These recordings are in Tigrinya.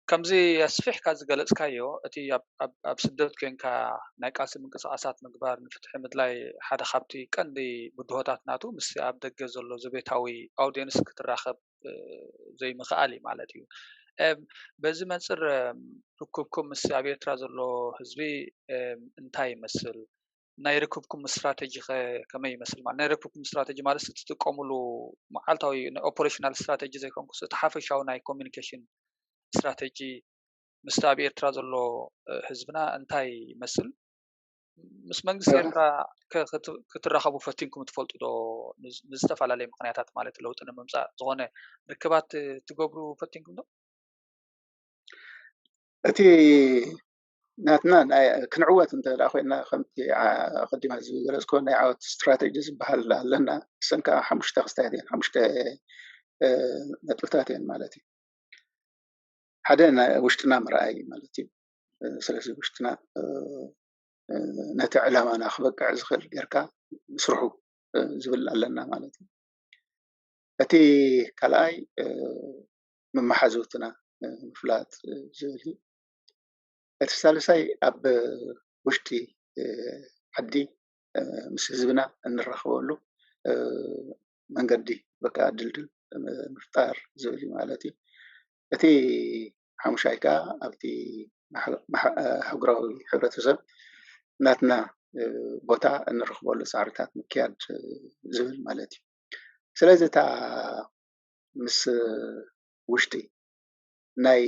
ከምዚ ኣስፊሕካ ዝገለጽካዮ እቲ ኣብ ስደት ኮንካ ናይ ቃልሲ ምንቅስቃሳት ምግባር ንፍትሒ ምድላይ ሓደ ካብቲ ቀንዲ ብድሆታት ናቱ ምስ ኣብ ደገ ዘሎ ዘቤታዊ ኣውድየንስ ክትራኸብ ዘይምኽኣል እዩ ማለት እዩ በዚ መንፅር ርክብኩም ምስ ኣብ ኤርትራ ዘሎ ህዝቢ እንታይ ይመስል ናይ ርክብኩም ስትራተጂ ከ ከመይ ይመስል? ማለት ናይ ርክብኩም ስትራተጂ ማለት እትጥቀምሉ መዓልታዊ ናይ ኦፐሬሽናል ስትራተጂ ዘይኮንኩስ እቲ ሓፈሻዊ ናይ ኮሚኒኬሽን ስትራተጂ ምስቲ ኣብ ኤርትራ ዘሎ ህዝብና እንታይ ይመስል? ምስ መንግስቲ ኤርትራ ክትራኸቡ ፈቲንኩም ትፈልጡ ዶ? ንዝተፈላለየ ምክንያታት ማለት ለውጢ ንምምፃእ ዝኾነ ርክባት ትገብሩ ፈቲንኩም ዶ? እቲ ናትና ክንዕወት እንተ ኮይና ከምቲ ኣቀዲመ ዝገለፅክዎ ናይ ዓወት ስትራቴጂ ዝበሃል ኣለና እሰን ከዓ ሓሙሽተ ክስታያት እየን ሓሙሽተ ነጥብታት እየን ማለት እዩ ሓደ ውሽጥና ምርኣይ ማለት እዩ ስለዚ ውሽጥና ነቲ ዕላማና ክበቅዕ ዝኽእል ጌርካ ምስርሑ ዝብል ኣለና ማለት እዩ እቲ ካልኣይ መመሓዘውትና ምፍላጥ ዝብል እዩ እቲ ሳልሳይ ኣብ ውሽጢ ዓዲ ምስ ህዝብና እንራከበሉ መንገዲ በቃ ድልድል ምፍጣር ዝብል እዩ ማለት እዩ፡፡ እቲ ሓሙሻይ ከኣ ኣብቲ ኣህጉራዊ ሕብረተሰብ ናትና ቦታ እንረክበሉ ፃዕርታት ምክያድ ዝብል ማለት እዩ፡፡ ስለዚ እታ ምስ ውሽጢ ናይ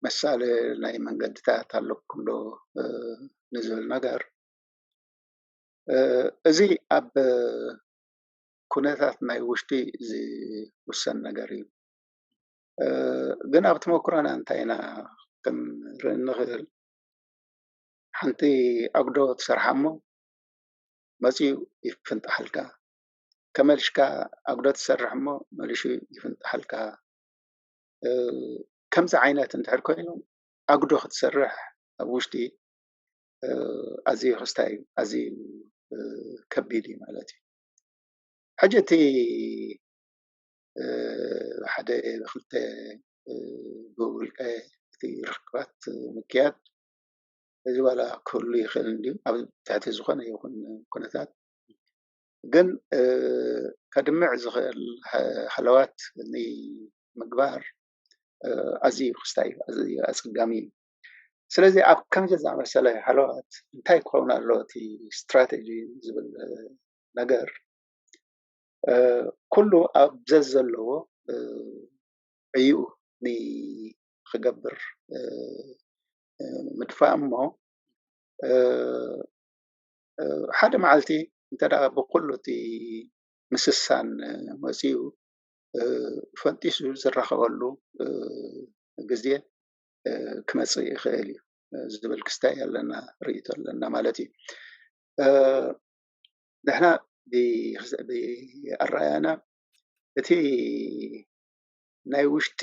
መሳሊ ናይ መንገድታት ኣለኩም ዶ ንዝብል ነገር እዚ ኣብ ኩነታት ናይ ውሽጢ ዝውሰን ነገር እዩ። ግን ኣብ ተመኩሮና እንታይ ኢና ክንርኢ እንኽእል ሓንቲ ኣጉዶ ትሰርሓ እሞ መፂኡ ይፍንጥሓልካ ተመሊስካ ኣጉዶ ትሰርሕ እሞ መሊሱ ይፍንጥሓልካ። ከምዚ ዓይነት እንድሕር ኮይኑ ኣጉዶ ክትሰርሕ ኣብ ውሽጢ ኣዝዩ ክስታይ እዩ ኣዝዩ ከቢድ እዩ ማለት እዩ ሕጂ እቲ ሓደ ክልተ ብውልቀ እቲ ርክባት ምክያድ እዚ ዋላ ክህሉ ይኽእል እንድዩ ኣብ ትሕቲ ዝኾነ ይኹን ኩነታት ግን ከድምዕ ዝኽእል ሃለዋት ንምግባር ኣዝዩ ክስታይ ኣዝዩ ኣጸጋሚ እዩ። ስለዚ ኣብ ከምዚ ዝኣመሰለ ሃለዋት እንታይ ክኸውን ኣሎ እቲ ስትራቴጂ ዝብል ነገር ኩሉ ኣብ ዘዘለዎ ዕይኡ ንክገብር ምድፋእ እሞ ሓደ መዓልቲ እንተ ብኩሉ እቲ ምስሳን መፂኡ ፈንጢሱ ዝራኸበሉ ግዘ ክመፅእ ይኽእል እዩ ዝብል ክስታይ ኣለና ርእይቶ ኣለና ማለት እዩ። ንሕና ብኣረኣእያና እቲ ናይ ውሽጢ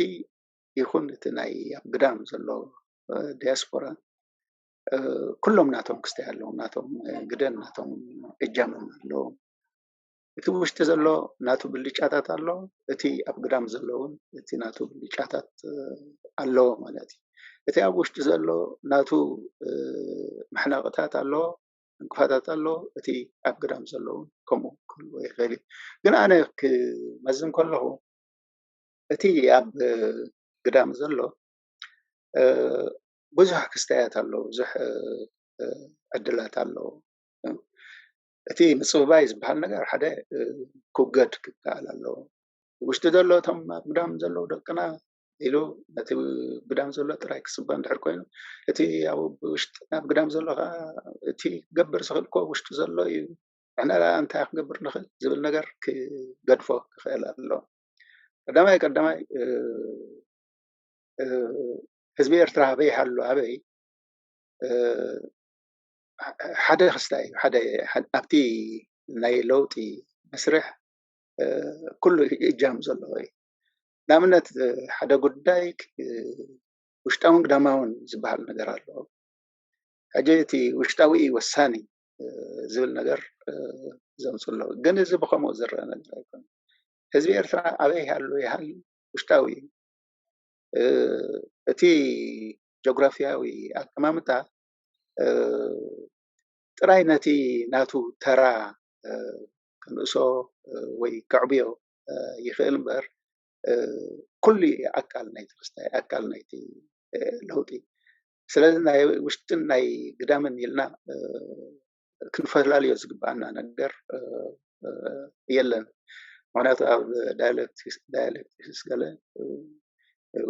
ይኹን እቲ ናይ ኣብ ግዳም ዘሎ ዲያስፖራ ኩሎም ናቶም ክስታይ ኣለዎም ናቶም ግደን ናቶም እጃሞም ኣለዎም እቲ ውሽጢ ዘሎ ናቱ ብልጫታት ኣሎ እቲ ኣብ ግዳም ዘሎ እውን እቲ ናቱ ብልጫታት ኣለዎ ማለት እዩ እቲ ኣብ ውሽጢ ዘሎ ናቱ መሕነቕታት ኣለዎ እንቅፋታት ኣሎ እቲ ኣብ ግዳም ዘሎ እውን ከምኡ ክህልዎ ይኽእል እዩ ግን ኣነ ክመዝን ከለኹ እቲ ኣብ ግዳም ዘሎ ብዙሕ ክስታያት ኣለዉ፣ ብዙሕ ዕድላት ኣለዉ። እቲ ምጽብባይ ዝበሃል ነገር ሓደ ክውገድ ክከኣል ኣለዎ። ውሽጢ ዘሎ እቶም ኣብ ግዳም ዘለዉ ደቅና ኢሉ ነቲ ግዳም ዘሎ ጥራይ ክጽበ እንድሕር ኮይኑ እቲ ኣብ ውሽጢ ኣብ ግዳም ዘሎ ከኣ እቲ ክገብር ዝኽእል እኮ ውሽጢ ዘሎ እዩ ንሕና ደኣ እንታይ ክንገብር ንኽእል ዝብል ነገር ክገድፎ ክኽእል ኣለዎ። ቀዳማይ ቀዳማይ ህዝቢ ኤርትራ ኣበይ ይሃሉ ኣበይ ሓደ ክስታይ እዩ ሓደ ኣብቲ ናይ ለውጢ መስርሕ ኩሉ እጃም ዘለዎ እዩ ንኣብነት ሓደ ጉዳይ ውሽጣውን ግዳማውን ዝበሃል ነገር ኣሎ ሕጂ እቲ ውሽጣዊ እዩ ወሳኒ ዝብል ነገር ዘምፅ ኣለዉ ግን እዚ ብከምኡ ዝረአ ነገር ኣይኮነ ህዝቢ ኤርትራ ኣበይ ሃሉ ይሃል ውሽጣዊ እዩ እቲ ጆግራፍያዊ ኣቀማምጣ ጥራይ ነቲ ናቱ ተራ ክንእሶ ወይ ከዕብዮ ይኽእል እምበር ኩሉ ኣካል ናይቲ ክስታይ ኣካል ናይቲ ለውጢ ስለዚ ናይ ውሽጥን ናይ ግዳምን ኢልና ክንፈላለዮ ዝግበኣና ነገር የለን። ምክንያቱ ኣብ ዳያለክቲክስ ገለ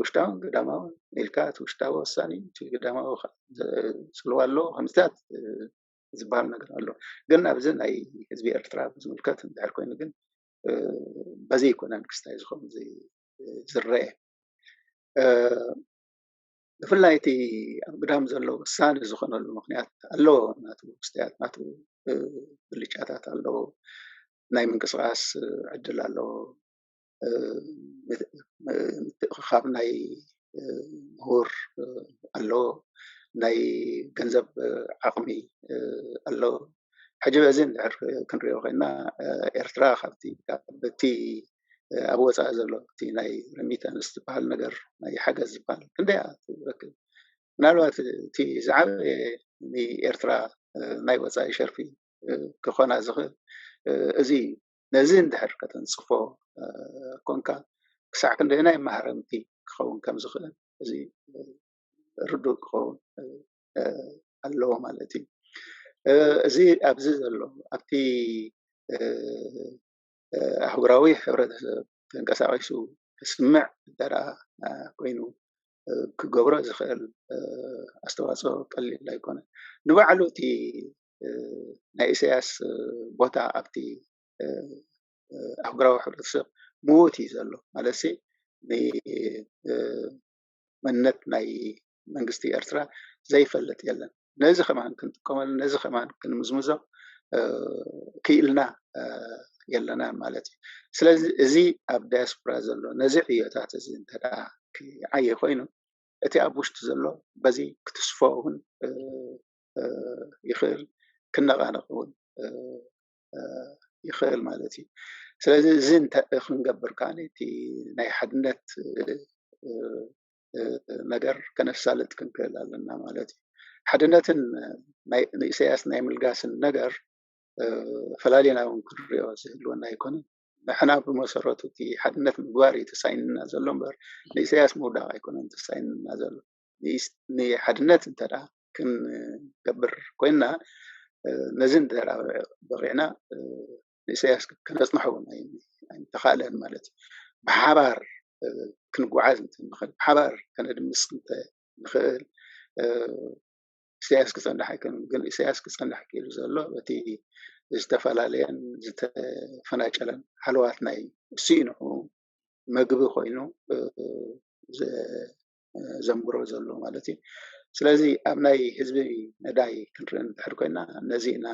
ውሽጣውን ግዳማውን ኢልካ እቲ ውሽጣዊ ወሳኒ እቲ ግዳማዊ ፅልዋ ኣለዎ ከምዚታት ዝበሃል ነገር ኣሎ። ግን ኣብዚ ናይ ህዝቢ ኤርትራ ብዝምልከት እንድሕር ኮይኑ ግን በዚ ኣይኮነን ክስታይ ዝኸውን ዝረኤ። ብፍላይ እቲ ኣብ ግዳም ዘሎ ወሳኒ ዝኾነሉ ምኽንያት ኣለዎ ናቱ መስትያት ናቱ ብልጫታት ኣለዎ ናይ ምንቅስቓስ ዕድል ኣለዎ ምትእኽኻብ ናይ ምሁር ኣለዎ ናይ ገንዘብ ዓቕሚ ኣለዎ። ሕጂ በዚ እንድሕር ክንሪኦ ኮይና ኤርትራ ካብቲ በቲ ኣብ ወጻኢ ዘሎ እቲ ናይ ረሚታንስ ዝበሃል ነገር ናይ ሓገዝ ዝበሃል ክንደይ እያ ትረክብ? ምናልባት እቲ ዝዓበየ ንኤርትራ ናይ ወጻኢ ሸርፊ ክኾና ዝኽእል እዚ እዩ። ነዚ እንድሕር ከተንጽፎ ኮንካ ክሳዕ ክንደየናይ ማህረምቲ ክኸውን ከም ዝኽእል እዚ ርዱእ ክኸውን ኣለዎ ማለት እዩ። እዚ ኣብዚ ዘሎ ኣብቲ ኣህጉራዊ ሕብረተሰብ ተንቀሳቒሱ ክስምዕ እንተደኣ ኮይኑ ክገብሮ ዝኽእል ኣስተዋፅኦ ቀሊል ኣይኮነን። ንባዕሉ እቲ ናይ ኢሳያስ ቦታ ኣብቲ ኣህጉራዊ ሕብረተሰብ ምዉት እዩ ዘሎ ማለት ንመንነት ናይ መንግስቲ ኤርትራ ዘይፈልጥ የለን። ነዚ ከማን ክንጥቀመሉ ነዚ ከማን ክንምዝምዞ ክኢልና የለናን ማለት እዩ ስለዚ እዚ ኣብ ዳያስፖራ ዘሎ ነዚ ዕዮታት እዚ እንተ ክዓየ ኮይኑ እቲ ኣብ ውሽጢ ዘሎ በዚ ክትስፎ እውን ይኽእል ክነቃነቅ እውን ይኽእል ማለት እዩ ስለዚ እዚ እንተ ክንገብር ከዓ እቲ ናይ ሓድነት ነገር ከነሳልጥ ክንክእል ኣለና ማለት እዩ ሓድነትን ንእሰያስ ናይ ምልጋስን ነገር ፈላሌና ውን ክንሪኦ ዝህልወና ኣይኮነ ንሕና ብመሰረቱ እቲ ሓድነት ምግባር እዩ ተሳይንና ዘሎ በር ንእሰያስ ምውዳቅ ኣይኮነን ተሳይንና ዘሎ ንሓድነት እንተ ክንገብር ኮይና ነዚ እንተ በቂዕና ንእሰያስ ክነጽንሖ ውን ኣይምተኻእለን ማለት እዩ። ብሓባር ክንጉዓዝ እንተ ንኽእል ብሓባር ከነድምስ እንተ ንኽእል እሰያስ ክጸንሕ ኣይክእልን ግን እሰያስ ክጸንሕ ክኢሉ ዘሎ በቲ ዝተፈላለየን ዝተፈናጨለን ሃለዋት ናይ ስኢንሑ መግቢ ኮይኑ ዘንብሮ ዘሎ ማለት እዩ። ስለዚ ኣብ ናይ ህዝቢ መዳይ ክንርኢ እንድሕር ኮይና ነዚ ኢና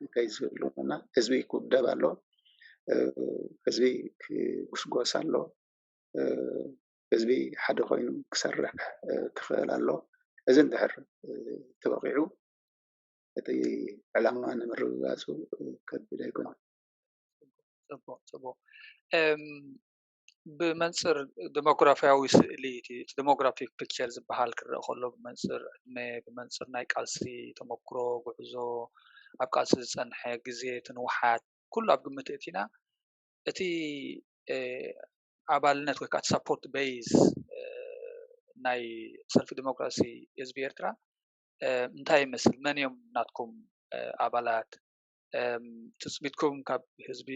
እንታይ ዝብሉ እና ህዝቢ ክውደብ ኣሎ፣ ህዝቢ ክጉስጎስ ኣሎ፣ ህዝቢ ሓደ ኮይኑ ክሰርሕ ክኽእል ኣሎ፣ እዚ እንድሕር ተወቒዑ እቲ ዕላማ ንምርግጋፁ ከቢድ ኣይኮነን። ፅቡቕ ፅቡቕ። ብመንፅር ደሞግራፍያዊ ስእሊ እቲ ደሞግራፊክ ፒክቸር ዝበሃል ክረኣ ከሎ ብመንፅር ዕድመ፣ ብመንፅር ናይ ቃልሲ ተመኩሮ፣ ጉዕዞ፣ ኣብ ቃልሲ ዝፀንሐ ግዘ፣ እቲ ንውሓት ኩሉ ኣብ ግምት እእቲና እቲ ኣባልነት ወይ ከዓ እቲ ሳፖርት በይዝ ናይ ሰልፊ ዲሞክራሲ ህዝቢ ኤርትራ እንታይ ይመስል? መን እዮም ናትኩም ኣባላት? ትጽቢትኩም ካብ ህዝቢ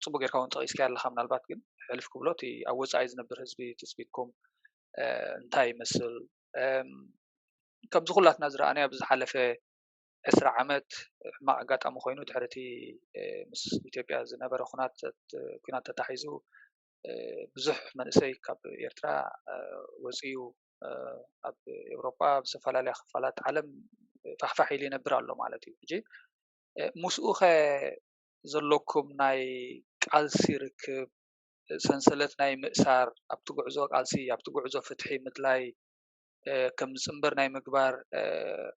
ጽቡቅ ጌርካ ውን ጠቂስካዮ ኣለካ ምናልባት ግን ሕልፍ ክብሎ እቲ ኣብ ወጻኢ ዝነብር ህዝቢ ትጽቢትኩም እንታይ ይመስል ከምዚ ኩላትና ዝረኣናዮ ኣብዚ ዝሓለፈ ዕስራ ዓመት ሕማቅ ኣጋጣሚ ኮይኑ ድሕሪ እቲ ምስ ኢትዮጵያ ዝነበረ ኩናት ተታሒዙ ብዙሕ መንእሰይ ካብ ኤርትራ ወጺኡ ኣብ ኤውሮጳ ኣብ ዝተፈላለያ ክፋላት ዓለም ፋሕፋሕ ኢሉ ይነብር ኣሎ ማለት እዩ ሕጂ ምስኡ ኸ ዘለኩም ናይ ቃልሲ ርክብ ሰንሰለት ናይ ምእሳር ኣብቲ ጉዕዞ ቃልሲ ኣብቲ ጉዕዞ ፍትሒ ምድላይ ከም ዝፅምበር ናይ ምግባር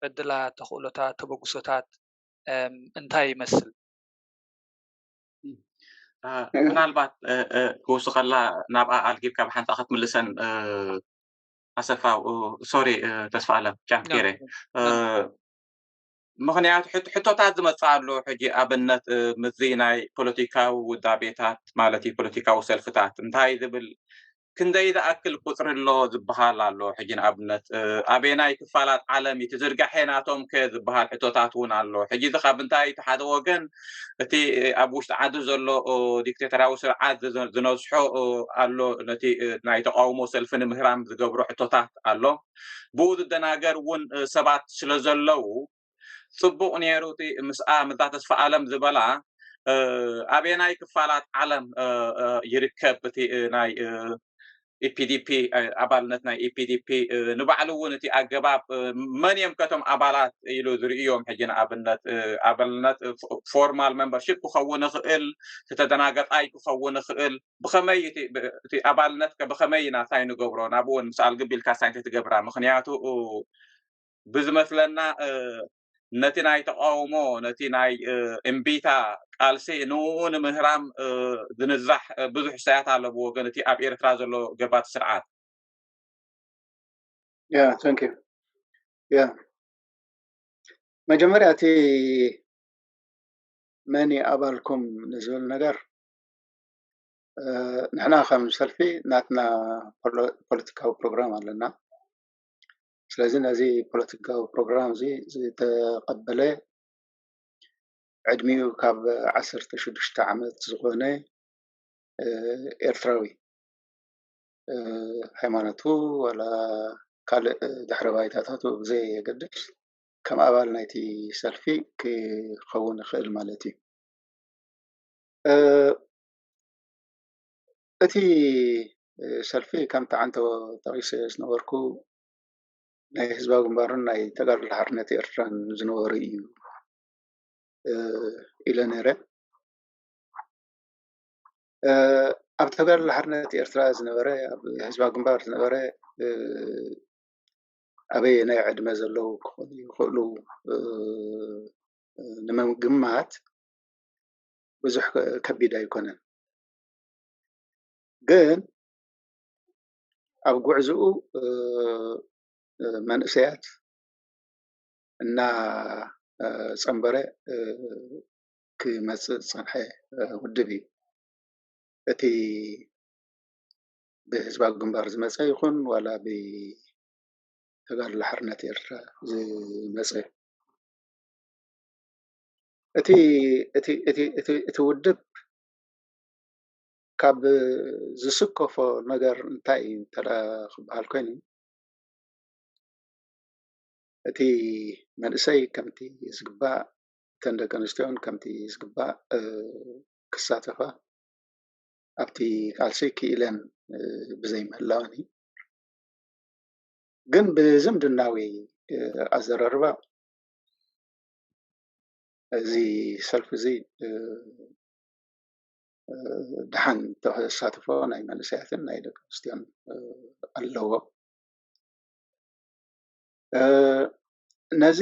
ዕድላት ተኽእሎታት ተበግሶታት እንታይ ይመስል? ምናልባት ክውስኸላ ናብኣ ኣልጊብካ ብሓንታ ክትምልሰን ኣሰፋ ሶሪ ተስፋ ኣለም ጫም ገይረ ምክንያቱ ሕቶታት ዝመፅእ ኣሎ ሕጂ ኣብነት ምዚ ናይ ፖለቲካዊ ውዳቤታት ማለት እዩ ፖለቲካዊ ሰልፍታት እንታይ ዝብል ክንደይ ዝኣክል ቁጽሪ ኣሎ ዝበሃል ኣሎ። ሕጂ ንኣብነት ኣበየናይ ክፋላት ዓለም እዩ ትዝርጋሐ ናቶም ከ ዝበሃል ሕቶታት እውን ኣሎ። ሕጂ እዚ ካብ እንታይ እቲ ሓደ ወገን እቲ ኣብ ውሽጢ ዓዲ ዘሎ ዲክቴተራዊ ስርዓት ዝነዝሖ ኣሎ ነቲ ናይ ተቃውሞ ሰልፊ ንምህራም ዝገብሮ ሕቶታት ኣሎ። ብኡ ዝደናገር እውን ሰባት ስለ ዘለው ጽቡቅ ኔሩ እቲ ምስኣ ምዛ ተስፋኣለም ዝበላ ኣበየናይ ክፋላት ዓለም ይርከብ እቲ ናይ ኢፒዲፒ ኣባልነት ናይ ኢፒዲፒ ንባዕሉ እውን እቲ ኣገባብ መን እዮም ከቶም ኣባላት ኢሉ ዝርእዮም ሕጂ ንኣብነት ኣባልነት ፎርማል ሜምበርሽፕ ክኸውን ይኽእል ተተደናገጣይ ክኸውን ይኽእል ብኸመይ እቲ ኣባልነት ብኸመይ ኢና እንታይ ንገብሮ ናብኡ እውን ምስ ኣልግቢልካ ሳይ እንተትገብራ ምክንያቱ ብዝመስለና ነቲ ናይ ተቃውሞ ነቲ ናይ እምቢታ ቃልሲ ንኡ ንምህራም ዝንዛሕ ብዙሕ ሰያት ኣሎ ብወገን እቲ ኣብ ኤርትራ ዘሎ ገባቲ ስርዓት ያ ታንኪ ያ መጀመርያ እቲ መን እዩ ኣባልኩም ንዝብል ነገር ንሕና ከም ሰልፊ ናትና ፖለቲካዊ ፕሮግራም ኣለና ስለዚ ነዚ ፖለቲካዊ ፕሮግራም እዚ ዝተቐበለ ዕድሚኡ ካብ ዓሰርተ ሽዱሽተ ዓመት ዝኾነ ኤርትራዊ ሃይማኖቱ ዋላ ካልእ ድሕረ ባይታታቱ ብዘየገድስ ከም ኣባል ናይቲ ሰልፊ ክኸውን ይኽእል ማለት እዩ። እቲ ሰልፊ ከምቲ ዓንተቦ ጠቒሰ ዝነበርኩ ናይ ህዝባዊ ግንባርን ናይ ተጋድሎ ሓርነት ኤርትራን ዝነበሩ እዩ ኢለ ነይረ። ኣብ ተጋድሎ ሓርነት ኤርትራ ዝነበረ ኣብ ህዝባ ግንባር ዝነበረ ኣበየ ናይ ዕድመ ዘለዉ ክኾኑ ይኽእሉ ንምግማት ብዙሕ ከቢድ ኣይኮነን። ግን ኣብ ጉዕዝኡ መንእሰያት እናፀምበረ ክመፅእ ዝፀንሐ ውድብ እዩ። እቲ ብህዝባዊ ግንባር ዝመፀ ይኹን ዋላ ብተጋድሎ ሓርነት ኤርትራ ዝመፀ እቲ ውድብ ካብ ዝስከፎ ነገር እንታይ እዩ እንተ ክበሃል ኮይኑ እቲ መንእሰይ ከምቲ ዝግባእ እተን ደቂ ኣንስትዮ እውን ከምቲ ዝግባእ ክሳተፋ ኣብቲ ቃልሲ ክኢለን ብዘይ ምህላወን እዩ ግን ብዝምድናዊ ኣዘራርባ እዚ ሰልፊ እዚ ድሓን ተሳትፎ ናይ መንእሰያትን ናይ ደቂ ኣንስትዮን ኣለዎ ነዚ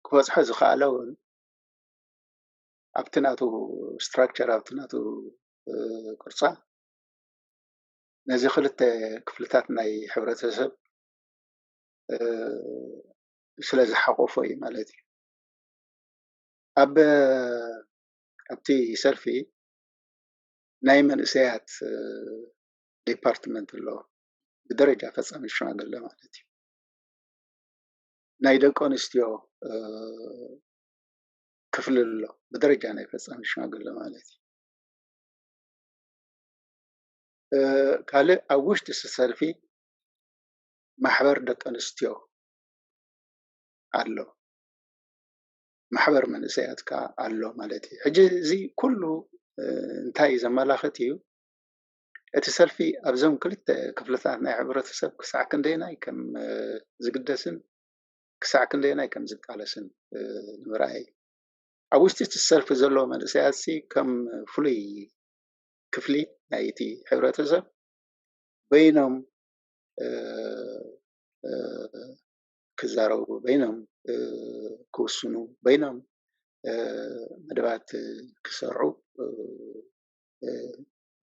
ክበፅሖ ዝኸኣለ እውን ኣብቲ ናቱ ስትራክቸር ኣብቲ ናቱ ቅርፃ ነዚ ክልተ ክፍልታት ናይ ሕብረተሰብ ስለ ዝሓቆፎ እዩ ማለት እዩ ኣብ ኣብቲ ሰልፊ ናይ መንእሰያት ዲፓርትመንት ኣሎ ብደረጃ ፈፃሚ ሽማግለ ማለት እዩ ናይ ደቂ ኣንስትዮ ክፍሊ ኣሎ ብደረጃ ናይ ፈፃሚ ሽማግለ ማለት እዩ ካልእ ኣብ ውሽጢ ሰልፊ ማሕበር ደቂ ኣንስትዮ ኣሎ ማሕበር መንእሰያት ከኣ ኣሎ ማለት እዩ። ሕጂ እዚ ኩሉ እንታይ እዩ ዘመላኽት እዩ? እቲ ሰልፊ ኣብዞም ክልተ ክፍልታት ናይ ሕብረተሰብ ክሳዕ ክንደየናይ ከም ዝግደስን ክሳዕ ክንደየናይ ከም ዝቃለስን ንምርኣይ እዩ። ኣብ ውሽጢ እቲ ሰልፊ ዘለዉ መንእሰያትሲ ከም ፍሉይ ክፍሊ ናይ እቲ ሕብረተሰብ በይኖም ክዛረቡ በይኖም ክውስኑ በይኖም መደባት ክሰርዑ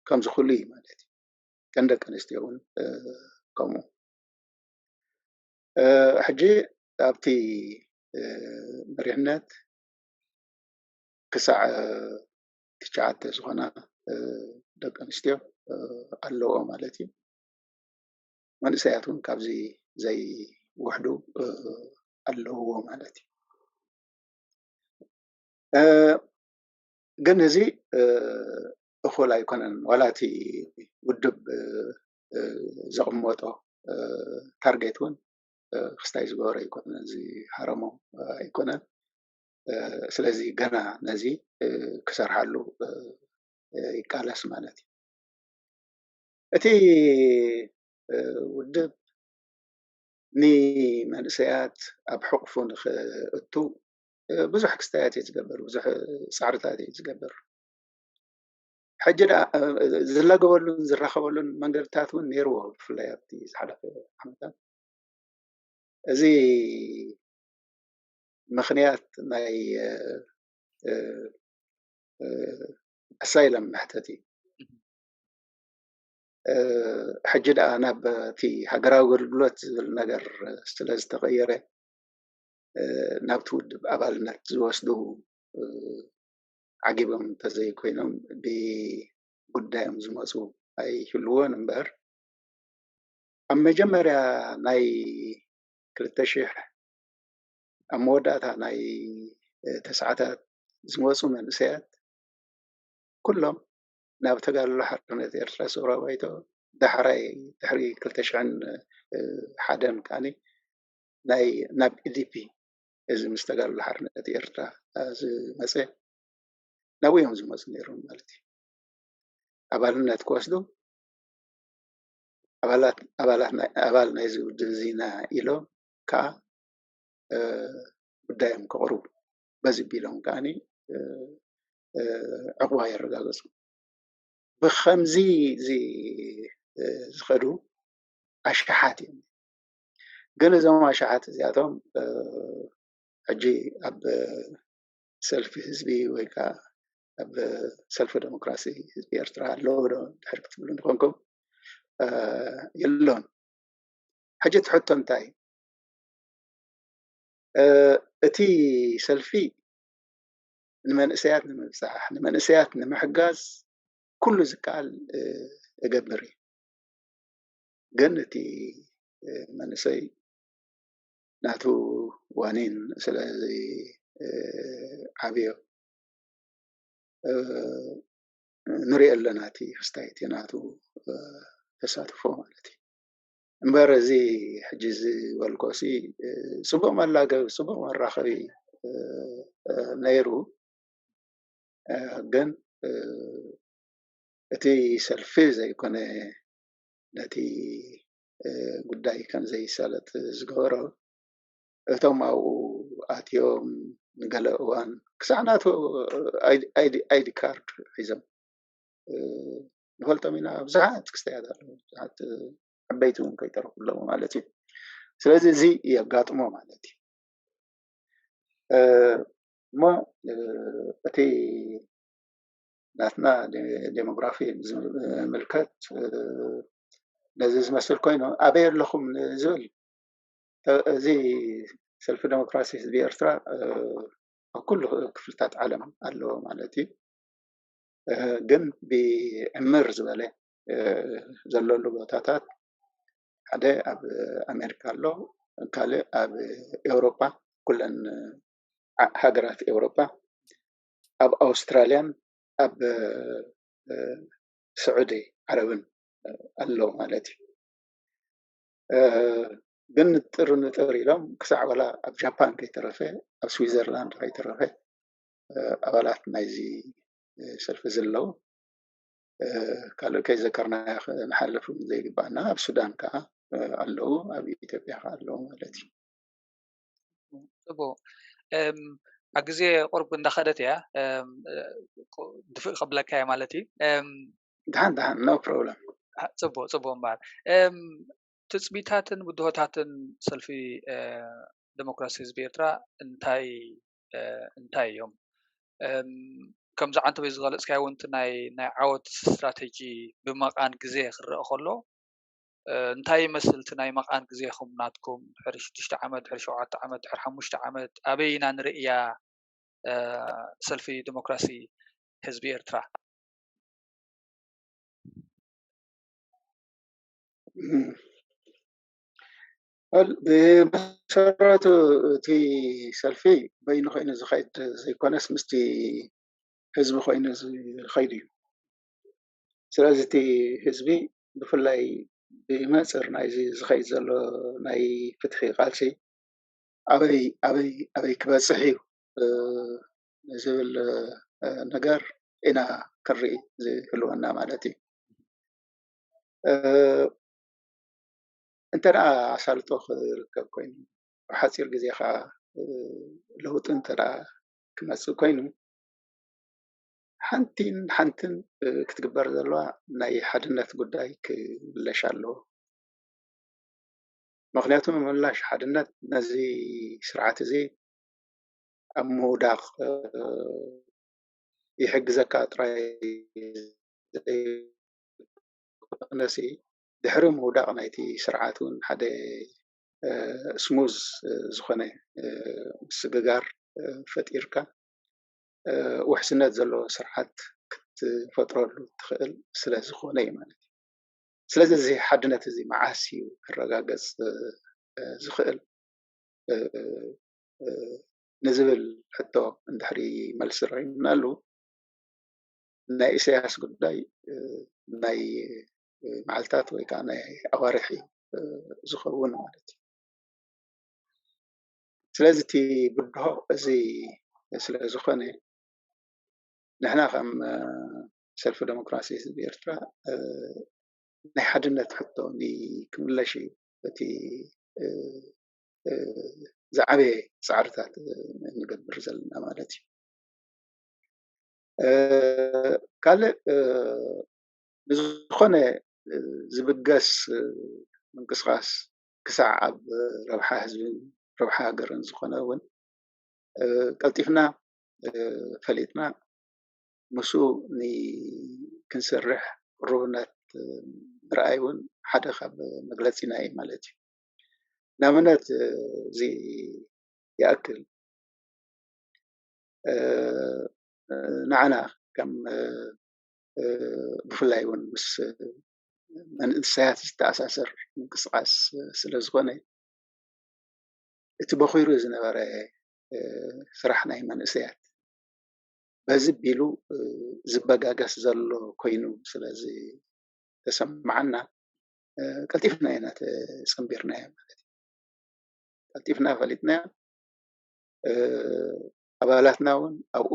ከም ዝኽእሉ እዩ ማለት እዩ ከም ደቂ ኣንስትዮ እውን ከምኡ ሕጂ ኣብቲ መሪሕነት ክሳዕ ትሽዓተ ዝኾና ደቂ ኣንስትዮ ኣለዎ ማለት እዩ መንእሰያት እውን ካብዚ ዘይውሕዱ ኣለውዎ ማለት እዩ። ግን እዚ እኹል ኣይኮነን ዋላ እቲ ውድብ ዘቕመጦ ታርጌት እውን ክስታይ ዝገበሮ ኣይኮነን ዝሃረሞ ኣይኮነን። ስለዚ ገና ነዚ ክሰርሓሉ ይቃለስ ማለት እዩ። እቲ ውድብ ንመንእሰያት ኣብ ሕቑፉ ንኽእቱ ብዙሕ ክስታያት እዩ ዝገብር፣ ብዙሕ ፃዕርታት እዩ ዝገብር። ሕጂ ደኣ ዝላገበሉን ዝራኸበሉን መንገድታት እውን ነይርዎ፣ ብፍላይ ኣብቲ ዝሓለፈ ዓመታት እዚ ምኽንያት ናይ ኣሳይለም መሕተቲ ሕጂ ደኣ ናብ እቲ ሃገራዊ ኣገልግሎት ዝብል ነገር ስለ ዝተቐየረ ናብቲ ውድብ ኣባልነት ዝወስዱ ዓጊቦም እንተዘይኮይኖም ብጉዳዮም ዝመፁ ኣይህልዎን እምበር ኣብ መጀመርያ ናይ ክልተ ሽሕ ኣብ መወዳእታ ናይ ተስዓታት ዝመፁ መንእሰያት ኩሎም ናብ ተጋድሎ ሓርነት ኤርትራ ሰውራዊ ባይቶ ዳሕራይ ድሕሪ ክልተ ሽሕን ሓደን ከኣ ናይ ናብ ኢዲፒ እዚ ምስ ተጋድሎ ሓርነት ኤርትራ ዝመጸ ናብኡ እዮም ዝመጹ ነይሮም ማለት እዩ። ኣባልነት ክወስዱ ኣባላት ኣባላት ኣባል ናይዚ ውድብ እዚ ኢና ኢሎም ከዓ ጉዳዮም ከቕርቡ በዚ ቢሎም ከዓኒ ዕቑባ የረጋገፁ። ብኸምዚ ዝኸዱ ኣሽሓት እዮም። ግን እዞም ኣሽሓት እዚኣቶም ሕጂ ኣብ ሰልፊ ህዝቢ ወይ ከዓ ኣብ ሰልፊ ዴሞክራሲ ህዝቢ ኤርትራ ኣለዎ ዶ ድሕር ክትብሉ ንኾንኩም የሎን። ሕጂ እቲ ሕቶ እንታይ እቲ ሰልፊ ንመንእሰያት ንምብፃሕ ንመንእሰያት ንምሕጋዝ ኩሉ ዝከኣል እገብር እዩ ግን እቲ መንእሰይ ናቱ ዋኒን ስለ ዘይዓብዮ ንሪኦ ኣለና እቲ ክስታይ እቲ ናቱ ተሳትፎ ማለት እዩ። እምበር እዚ ሕጂ ዝበልኮሲ ፅቡቅ መላገቢ ፅቡቅ መራከቢ ነይሩ ግን እቲ ሰልፊ ዘይኮነ ነቲ ጉዳይ ከምዘይሳለጥ ዝገበሮ እቶም ኣብኡ ኣትዮም ንገለ እዋን ክሳዕ ናቱ ኣይዲ ካርድ ሒዞም ንፈልጦም ኢና ብዙሓት ክስተያት ኣለዉ ብዙሓት ዓበይቲ እውን ከይተረፉ ኣለዉ ማለት እዩ ስለዚ እዚ የጋጥሞ ማለት እዩ እሞ እቲ ናትና ዴሞግራፊ ዝምልከት ነዚ ዝመስል ኮይኑ ኣበይ ኣለኹም ዝብል እዚ ሰልፊ ዴሞክራሲ ህዝቢ ኤርትራ ኣብ ኩሉ ክፍልታት ዓለም ኣለዎ ማለት እዩ ግን ብዕምር ዝበለ ዘለሉ ቦታታት ሓደ ኣብ ኣሜሪካ ኣሎ ካልእ ኣብ ኤውሮጳ ኩለን ሃገራት ኤውሮጳ ኣብ ኣውስትራልያን ኣብ ስዑዲ ዓረብን ኣሎ ማለት እዩ ግን ንጥር ንጥር ኢሎም ክሳዕ ወላ ኣብ ጃፓን ከይተረፈ ኣብ ስዊዘርላንድ ከይተረፈ ኣባላት ናይዚ ሰልፊ እዚ ኣለዉ። ካልእ ከይዘከርናዮ ክንሓልፍ ዘይግብኣና ኣብ ሱዳን ከኣ ኣለዉ ኣብ ኢትዮጵያ ከኣ ኣለዉ ማለት እዩ። ፅቡቅ ኣብ ግዜ ቁርብ እንዳኸደት እያ ድፍእ ከብለካ እየ ማለት እዩ። ድሓን ድሓን ኖ ፕሮብለም። ፅቡቅ ፅቡቅ እምበኣር ትፅቢታትን ብድሆታትን ሰልፊ ደሞክራሲ ህዝቢ ኤርትራ እንታይ እንታይ እዮም ከምዚ ዓንተበይ ዝገለፅካዮ እውን እቲ ናይ ዓወት ስትራተጂ ብመቓን ግዘ ክረኣ ከሎ እንታይ ይመስል እቲ ናይ መቓን ግዜኹም ናትኩም ድሕሪ ሽዱሽተ ዓመት ድሕሪ ሸውዓተ ዓመት ድሕሪ ሓሙሽተ ዓመት ኣበይ ኢና ንርእያ ሰልፊ ዲሞክራሲ ህዝቢ ኤርትራ ብመሰረቱ እቲ ሰልፊ በይኑ ኮይኑ ዝኸይድ ዘይኮነስ ምስቲ ህዝቢ ኮይኑ ዝኸይድ እዩ። ስለዚ እቲ ህዝቢ ብፍላይ ብመንፅር ናይዚ ዝኸይድ ዘሎ ናይ ፍትሒ ቃልሲ ኣበይ ኣበይ ኣበይ ክበፅሕ እዩ ዝብል ነገር ኢና ክንርኢ ዝህልወና ማለት እዩ። እንተደኣ ኣሳልጦ ክርከብ ኮይኑ ኣብ ሓጺር ግዜ ከኣ ለውጢ እንተደኣ ክመጽእ ኮይኑ ሓንቲን ሓንትን ክትግበር ዘለዋ ናይ ሓድነት ጉዳይ ክምለሽ ኣለዎ። ምክንያቱ ምምላሽ ሓድነት ነዚ ስርዓት እዚ ኣብ ምውዳቅ ይሕግዘካ ጥራይ ዘይኮነሲ ድሕሪ ምውዳቕ ናይቲ ስርዓት እውን ሓደ ስሙዝ ዝኾነ ምስግጋር ፈጢርካ ውሕስነት ዘለዎ ስርዓት ክትፈጥረሉ እትኽእል ስለ ዝኾነ እዩ ማለት እዩ። ስለዚ እዚ ሓድነት እዚ መዓስ እዩ ክረጋገጽ ዝኽእል ንዝብል ሕቶ እንድሕሪ መልሲ ረኺብናሉ ናይ ኢሳያስ ጉዳይ ናይ መዓልታት ወይ ከዓ ናይ ኣዋርሕ እዩ ዝኸውን ማለት እዩ። ስለዚ እቲ ብድሆ እዚ ስለ ዝኾነ ንሕና ከም ሰልፊ ዴሞክራሲ ህዝቢ ኤርትራ ናይ ሓድነት ሕቶ ክምለሽ እዩ እቲ ዝዓበየ ፃዕርታት እንገብር ዘለና ማለት እዩ። ካልእ ንዝኾነ ዝብገስ ምንቅስቓስ ክሳዕ ኣብ ረብሓ ህዝብን ረብሓ ሃገርን ዝኾነ እውን ቀልጢፍና ፈሊጥና ምስኡ ክንሰርሕ ቅሩብነት ምርኣይ እውን ሓደ ካብ መግለፂና እዩ ማለት እዩ። ንኣብነት እዚ ይኣክል ንዓና ከም ብፍላይ እውን ምስ መንእሰያት ዝተኣሳሰር ምንቅስቓስ ስለ ዝኾነ እቲ በኺሩ ዝነበረ ስራሕ ናይ መንእሰያት በዚ ቢሉ ዝበጋገስ ዘሎ ኮይኑ ስለ ዝተሰማዓና ቀልጢፍና ኢና ተፀምቢርናዮ ማለት እዩ ቀልጢፍና ፈሊጥናዮ ኣባላትና እውን ኣብኡ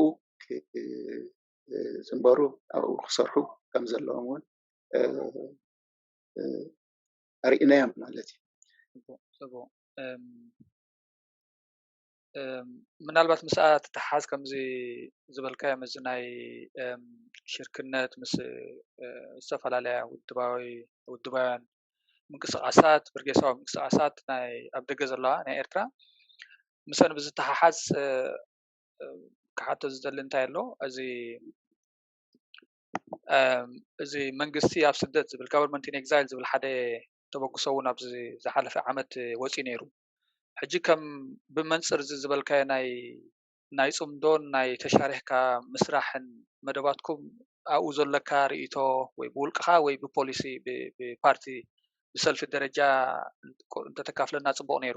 ዝንበሩ ኣብኡ ክሰርሑ ከም ዘለዎም እውን ኣርኢናዮም ማለት እዩ። ፅቡቅ ምናልባት ምስኣ ትተሓሓዝ ከምዚ ዝበልካዮ ምስዚ ናይ ሽርክነት ምስ ዝተፈላለያ ውድባዊ ውድባውያን ምንቅስቃሳት ብርጌሳዊ ምንቅስቃሳት ናይ ኣብ ደገ ዘለዋ ናይ ኤርትራ ምስኣን ብዝተሓሓዝ ክሓቶ ዝደሊ እንታይ ኣሎ እዚ እዚ መንግስቲ ኣብ ስደት ዝብል government in exile ዝብል ሓደ ተበግሶ እውን ኣብዚ ዝሓለፈ ዓመት ወፂኡ ነይሩ። ሕጂ ከም ብመንፅር እዚ ዝበልካዮ ናይ ናይ ፅምዶን ናይ ተሻሪሕካ ምስራሕን መደባትኩም ኣብኡ ዘለካ ሪኢቶ ወይ ብውልቅኻ ወይ ብፖሊሲ ብፓርቲ ብሰልፊ ደረጃ እንተተካፍለና ፅቡቅ ነይሩ።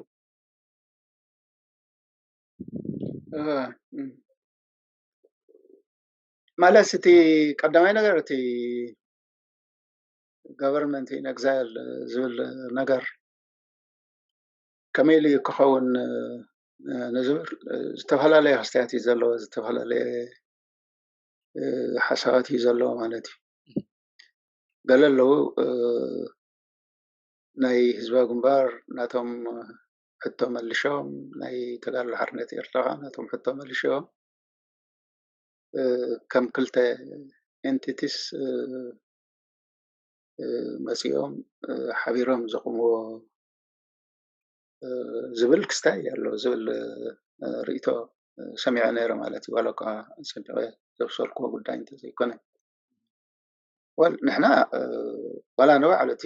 መለስ እቲ ቀዳማይ ነገር እቲ ገቨርንመንት ኢን ኤግዛይል ዝብል ነገር ከመይ ኢሉ እዩ ክኸውን ንዝብል ዝተፈላለየ ኣስተያየት እዩ ዘለዎ ዝተፈላለየ ሓሳባት እዩ ዘለዎ ማለት እዩ ገለ ኣለዉ ናይ ህዝባዊ ግንባር ናቶም ሕቶ መልሾም ናይ ተጋድሎ ሓርነት ኤርትራ ከኣ ነቶም ሕቶ መልሾም ከም ክልተ ኤንቲቲስ መጺኦም ሓቢሮም ዘቑምዎ ዝብል ክስታይ ኣሎ ዝብል ርእይቶ ሰሚዐ ነይረ ማለት እዩ ዋላ እኳ ኣጸቢቐ ዘብሰልክዎ ጉዳይ እንተዘይኮነ ንሕና ዋላ ንባዕሉ እቲ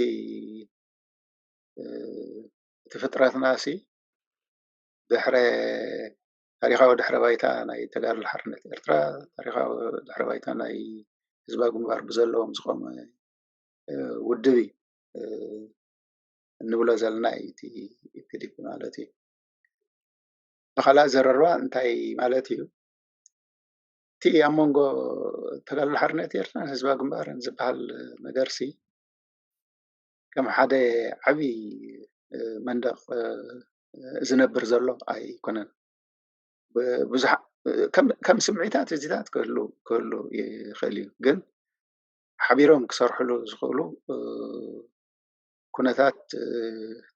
እቲ ፍጥረትናሲ ድሕረ ታሪኻዊ ድሕረ ባይታ ናይ ተጋድሎ ሓርነት ኤርትራ ታሪኻዊ ድሕረ ባይታ ናይ ህዝባዊ ግንባር ብዘለዎም ዝቖመ ውድብ እዩ እንብሎ ዘለና እዩ እቲ ኢፒዲፒ ማለት እዩ። ብኻልእ ኣዘራርባ እንታይ ማለት እዩ? እቲ ኣብ መንጎ ተጋድሎ ሓርነት ኤርትራን ህዝባዊ ግንባርን ዝበሃል ነገርሲ ከም ሓደ ዓብዪ መንደቕ ዝነብር ዘሎ ኣይኮነን። ብዙሓ ከም ስምዒታት እዚታት ክህሉ ክህሉ ይኽእል እዩ ግን ሓቢሮም ክሰርሕሉ ዝኽእሉ ኩነታት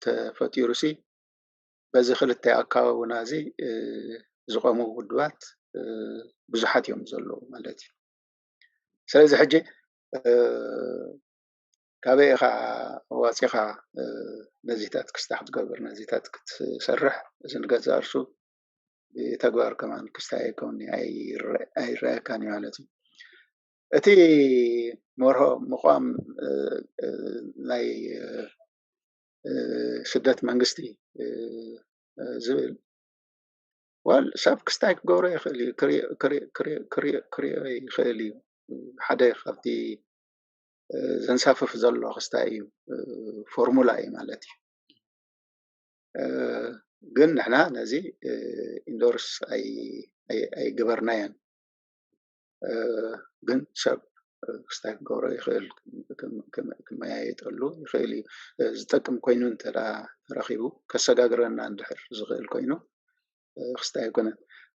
ተፈጢሩ ሲ በዚ ክልተ ኣከባብና እዚ ዝቐሙ ውድባት ብዙሓት እዮም ዘለዉ ማለት እዩ። ስለዚ ሕጂ ካበይ ኢኻ ዋጺኻ ነዚታት ክስታ ክትገብር ነዚታት ክትሰርሕ እዚ ንገዛ ርእሱ ብተግባር ከማን ክስታ ኣይከውንኒ ኣይረኣየካን እዩ ማለት እዩ እቲ መርሆ ምቋም ናይ ስደት መንግስቲ ዝብል ዋል ሰብ ክስታይ ክገብሮ ይኽእል እዩ ክሪኦ ይኽእል እዩ ሓደ ካብቲ ዘንሳፍፍ ዘሎ ክስታይ እዩ ፎርሙላ እዩ ማለት እዩ ግን ንሕና ነዚ ኢንዶርስ ኣይገበርናዮን ግን ሰብ ክስታይ ክገብሮ ይኽእል ክመያየጠሉ ይኽእል እዩ ዝጠቅም ኮይኑ እንተ ተረኪቡ ከሰጋግረና እንድሕር ዝኽእል ኮይኑ ክስታይ ኣይኮነን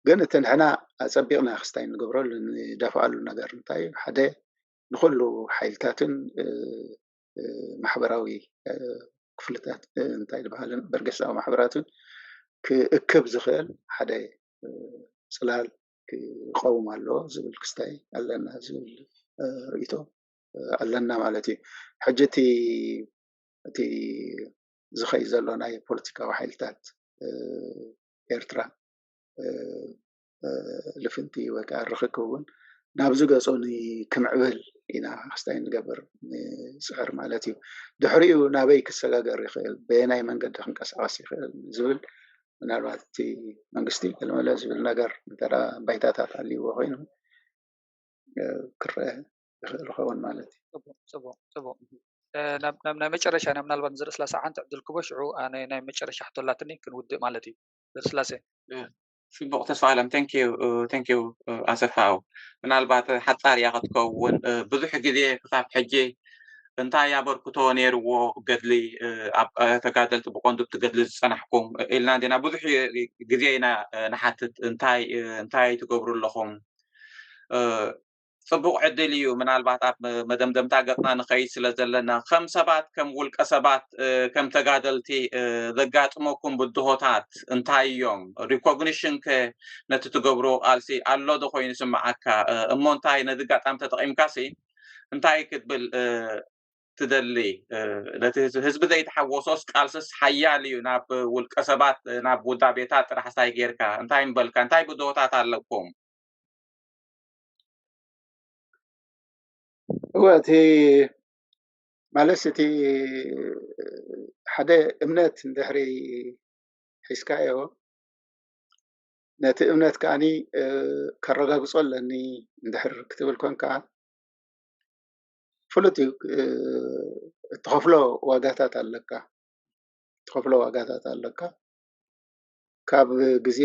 ግን እቲ ንሕና ኣፀቢቕና ክስታይ ንገብረሉ ንደፍኣሉ ነገር እንታይ እዩ ሓደ ንኹሉ ሓይልታትን ማሕበራዊ ክፍልታት እንታይ ዝበሃልን በርገሳዊ ማሕበራትን ክእክብ ዝኽእል ሓደ ፅላል ክቐውም ኣለዎ ዝብል ክስታይ ኣለና ዝብል ርእቶ ኣለና ማለት እዩ ሕጂ እቲ እቲ ዝኸይ ዘሎ ናይ ፖለቲካዊ ሓይልታት ኤርትራ ልፍንቲ ወይ ከዓ ርክክ እውን ናብ ዝገፁ ክምዕብል ኢና ክስታይ ንገብር ንፅዕር ማለት እዩ ድሕሪኡ ናበይ ክሰጋገር ይኽእል በየናይ መንገዲ ክንቀሳቀስ ይኽእል ዝብል ምናልባት እቲ መንግስቲ ለመለ ዝብል ነገር እንተ ባይታታት ኣልዎ ኮይኑ ክረአ ይኽእል ይኸውን ማለት እዩ ፅቡቅ ፅቡቅ ናብ ናይ መጨረሻ ኢና ምናልባት ንዘርእስላሰ ሓንቲ ዕድል ክቦ ሽዑ ናይ መጨረሻ ሕቶ ኣላትኒ ክንውድእ ማለት እዩ ዘርእስላሰ ጽቡቕ ተስፋኣለም thank you thank you ኣሰፋው ምናልባት ሓጻር እያ ክትከውን ብዙሕ ግዜ ክሳብ ሕጂ እንታይ ኣበርክቶ ነይርዎ ገድሊ ኣብ ተጋደልቲ ብቆንዱ እቲ ገድሊ ዝጸናሕኩም ኢልና እንዲና ብዙሕ ግዜ ኢና ንሓትት እንታይ እንታይ ትገብሩ ኣለኹም ጽቡቕ ዕድል እዩ ምናልባት ኣብ መደምደምታ ገጽና ንኸይድ ስለ ዘለና ከም ሰባት ከም ውልቀ ሰባት ከም ተጋደልቲ ዘጋጥመኩም ብድሆታት እንታይ እዮም ሪኮግኒሽን ከ ነቲ ትገብሮ ቃልሲ ኣሎ ዶ ኮይኑ ስምዓካ እሞ እንታይ ነዚ ጋጣሚ ተጠቒምካ ሲ እንታይ ክትብል ትደሊ ነቲ ህዝቢ ዘይተሓወሶስ ቃልስስ ሓያል እዩ ናብ ውልቀ ሰባት ናብ ውዳቤታት ጥራሕ ሳይ ጌርካ እንታይ ምበልካ እንታይ ብድሆታት ኣለኩም እወ እቲ ማለት እቲ ሓደ እምነት እንድሕሪ ሒዝካዮ ነቲ እምነት ከዓ ከረጋግፆ ኣለኒ እንድሕር ክትብል ኮይንካ ፍሉጥ እዩ እትኸፍሎ ዋጋታት ኣለካ። ካብ ግዜ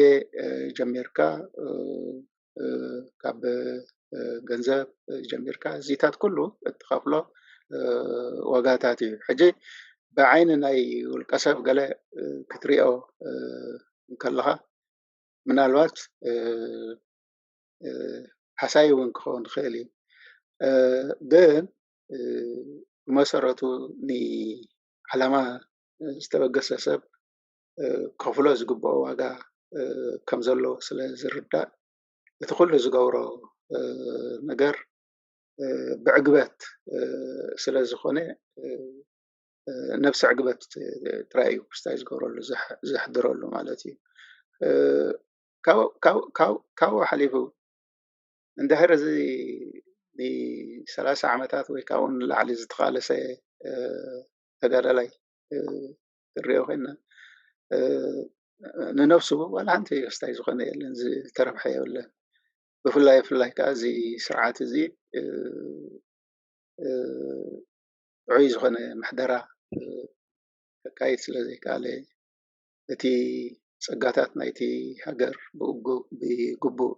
ጀሚርካ ካብ ገንዘብ ጀሚርካ እዚታት ኩሉ እትኸፍሎ ዋጋታት እዩ። ሕጂ ብዓይኒ ናይ ውልቀ ሰብ ገለ ክትሪኦ እንከለኻ ምናልባት ሃሳዪ እውን ክኸውን ይኽእል እዩ። ግን ብመሰረቱ ንዓላማ ዝተበገሰ ሰብ ክኸፍሎ ዝግበኦ ዋጋ ከም ዘሎ ስለ ዝርዳእ እቲ ኩሉ ዝገብሮ ነገር ብዕግበት ስለ ዝኾነ ነብሰ ዕግበት ጥራይ እዩ ክስታይ ዝገብረሉ ዘሕድረሉ ማለት እዩ። ካብኡ ሓሊፉ እንድሕር እዚ ንሰላሳ ዓመታት ወይ ካብኡ ንላዕሊ ዝተቓለሰ ተጋዳላይ፣ ክንሪኦ ኮይና ንነብሱ ዋላ ሓንቲ ወስታይ ዝኮነ የለን ዝተረብሐ የብለን ብፍላይ ብፍላይ ከዓ እዚ ስርዓት እዚ ጥዑይ ዝኮነ ምሕደራ ከካይድ ስለ ዘይከኣለ እቲ ፀጋታት ናይቲ ሃገር ብግቡእ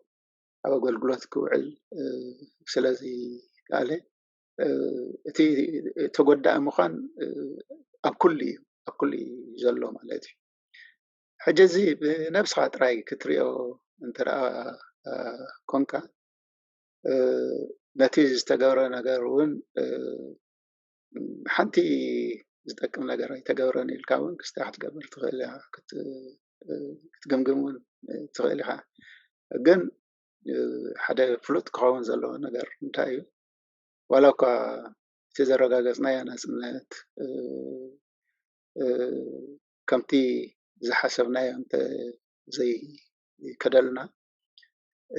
ኣብ ኣገልግሎት ክውዕል ስለ ዘይከኣለ እቲ ተጎዳኢ ምዃን ኣብ ኩሉ እዩ ኣብ ኩሉ እዩ ዘሎ ማለት እዩ ሕጂ እዚ ብነብስኻ ጥራይ ክትሪኦ እንተደኣ ኮንካ ነቲ ዝተገብረ ነገር እውን ሓንቲ ዝጠቅም ነገር ኣይተገብረን ኢልካ እውን ክስታይ ክትገብር ትኽእል ኢኻ ክትግምግም እውን ትኽእል ኢኻ ግን ሓደ ፍሉጥ ክኸውን ዘለዎ ነገር እንታይ እዩ ዋላ እኳ እቲ ዘረጋገፅናዮ ናፅነት ከምቲ ዝሓሰብናዮ እንተዘይከደልና